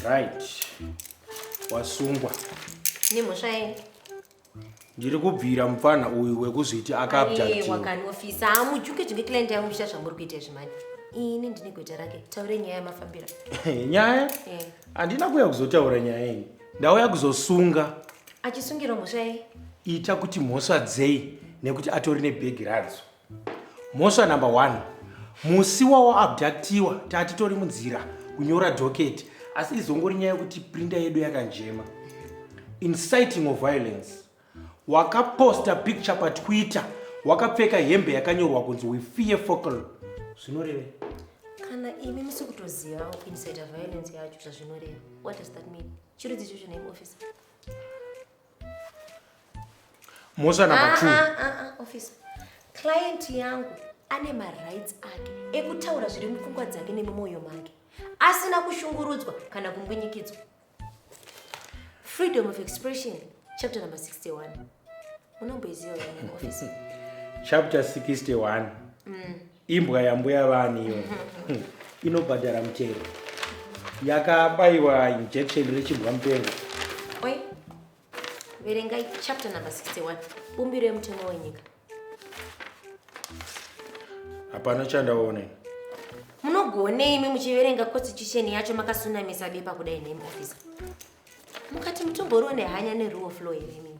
right wasungwa nemhosva yei ndiri kubvira mupfanha uyu wekuzviti akabjawakaniofisa hamujuke juke client yangu muchita zvamuri kuita izvi mani ini ndine gweta rake taure nyaya yamafambira nyaya eh. handina kuya kuzotaura nyaya iyi ndauya kuzosunga achisungirwa mhosva yei ita kuti mhosva dzei nekuti atori nebhegi radzo Mhosva number one, musi wawaabductiwa tatitori munzira kunyora docket asi izongori nyaya yekuti printer yedu yakanjema. Inciting of violence, wakaposta picture patwitter wakapfeka hembe yakanyorwa kunzi we fear focal zvinorevei? kana imi musi kutozivawo kuincita violence yacho zvazvinoreva what does that mean chirudzicho chine muofficer mhosva number ah, two ah, ah, officer client yangu ane marights ake ekutaura zviri mupfungwa dzake nemumwoyo make asina kushungurudzwa kana kumbwinyikidzwa freedom of expression chapter number 61 unomboiziva officer chapter 61 mm. Imbwa yambuya vani iyo inobhadhara mutero yakabaiwa injection rechimbwa mupengo Oi, verengai chapter number 61 bumbiro yemutemo wenyika hapana chandaone munogonei imi muchiverenga constitution yacho makasunamisa bepa kudai name officer mukati mutomboriwo nehanya neruo flow here imimi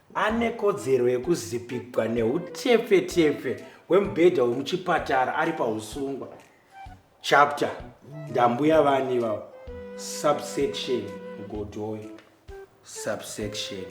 ane kodzero yekuzipigwa neutepfetepfe hwemubhedha wemuchipatara ari pausungwa chapter ndambuya vani ivavo subsection godoyo subsection